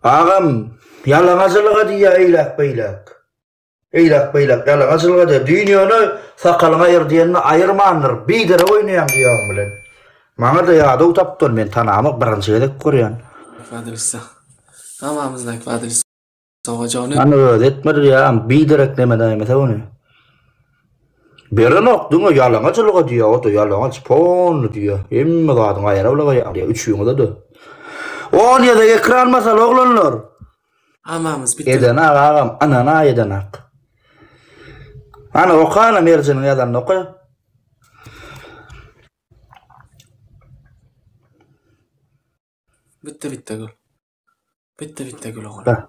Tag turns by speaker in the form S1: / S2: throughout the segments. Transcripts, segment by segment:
S1: Agam, ýalaňajylyga diýýär eýläk-beýläk. Eýläk-beýläk ýalaňajylyga diýýär. Düýn ýöne sakalyňy aýyr diýenini aýyrmandyr, biderek oýnaýaň diýýäň bilen. Maňa-da ýadaw tapdylar, men tanamak, birinji gezek görýän. Kwadrisa. Hamamyzdaky kwadrisa. Ojagyny. Ony özi etmedi diýýär, biderek nemenäýmese ony. Berenok diňe ýalaňaç ylga diýýär ota ýalaňaç polny diýýär hemme zadyň aýra ylga ýaly üçüňizede olyada ekran masal oglanlar. Amamyz biten. Eden ak agam anan aý eden ak. Ana oka ana Merjeniň ýazanyny oka. Bitti bitti gül. Bitti bitti gül oglan.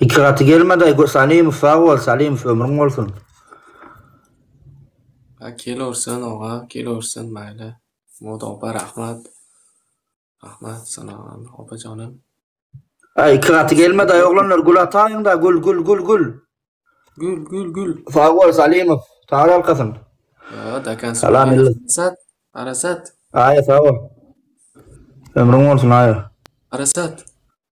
S1: Iki gaty gelmedi. Salimov sag bol, Salimov ömrüň bolsun. Ha kelorsan oga, kelorsan maýla. Moda opa rahmat. Rahmat sana opa janym. Ha iki gaty gelmedi ay oglanlar gül ataýyň da gül gül gül gül. Gül gül gül. Sag bol Salimov. Sag alkasyn. Ha dakan Salam millet. Arasat. Arasat. Aýa sag bol. Ömrüň bolsun aýa. Arasat.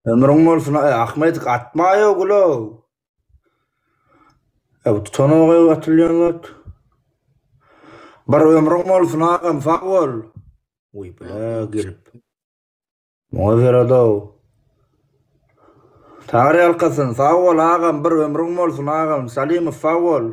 S1: Ömrüň bolsun aý Ahmedik atmaýa gulow. Ew tutanoga atylýan zat. Bir ömrüň bolsun agam sag bol. Uý bile gelip. Muňa zeradow. Taňry ýalkasyn sag bol agam bir ömrüň bolsun agam Salimow sag bol.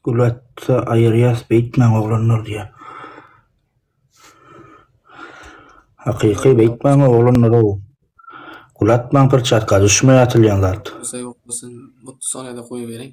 S1: Gulatsa aýyrýas beýtmäň oglanlar diýýär. Hakyky beýtmäň oglanlar ow. Gulatmaň pyrçatka düşme atylýan zat. Bolsa ýok bolsun. Mutlu sona-da goýberiň.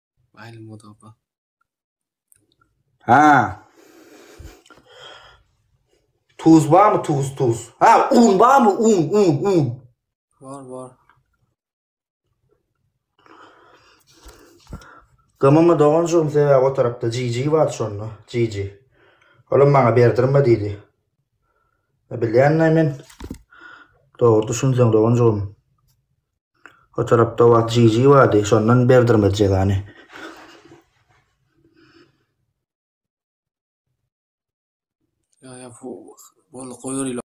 S1: Aýly muzapa. Ha. Tuz barmy tuz tuz? Ha, un barmy? Un, un, un. Var, var. Gymymy doganjygym sebäbi o tarapda GG bar şonda. GG. Olam bana berdirme diýdi. Bilýän men. Dogry düşünseň doganjygym. O tarapda wagt jiýji bardy, şondan berdirmedi jezany. Ýa ýa bu bol goýur ýyla.